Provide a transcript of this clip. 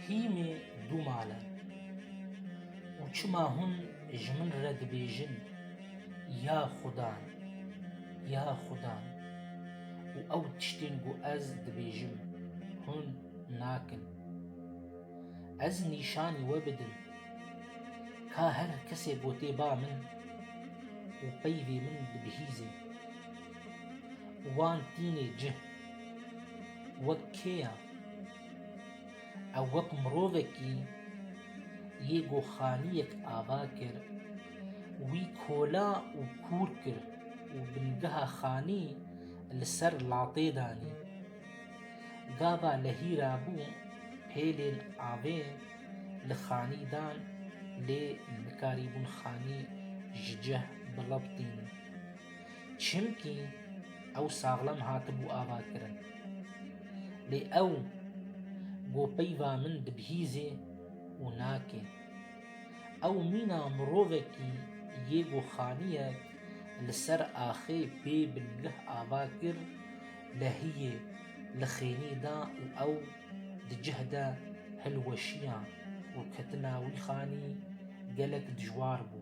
Hîmê du mal e û çima hûn ji min re dibêjin ya xudan, ya xudan û ew tiştên ku ez dibêjim hûn nakin. Ez nîşanî we bidim ka her kesê gotê ba min û peyvê min dibihîzin. Wan tînê cih wek kêya ew wek mirovekî yê ku xaniyek ava kir, wî kola û kûr kir û bingeha xanî li ser latê danî. Gava lehîra bû pêlên avê li xanî dan lê nikarîbûn xanî ji cih biliqtîn. Çimkî ew saxlem hatibû avakirin. Lê ew bo peyva min dibihîzê û nake. Ew mîna mirovekî yê ku xaniyek li ser axê pê bi lih ava kir, lehiyê li xênî da û ew di cih de hilweşiya û ketina wî xanî gelek dijwar bû.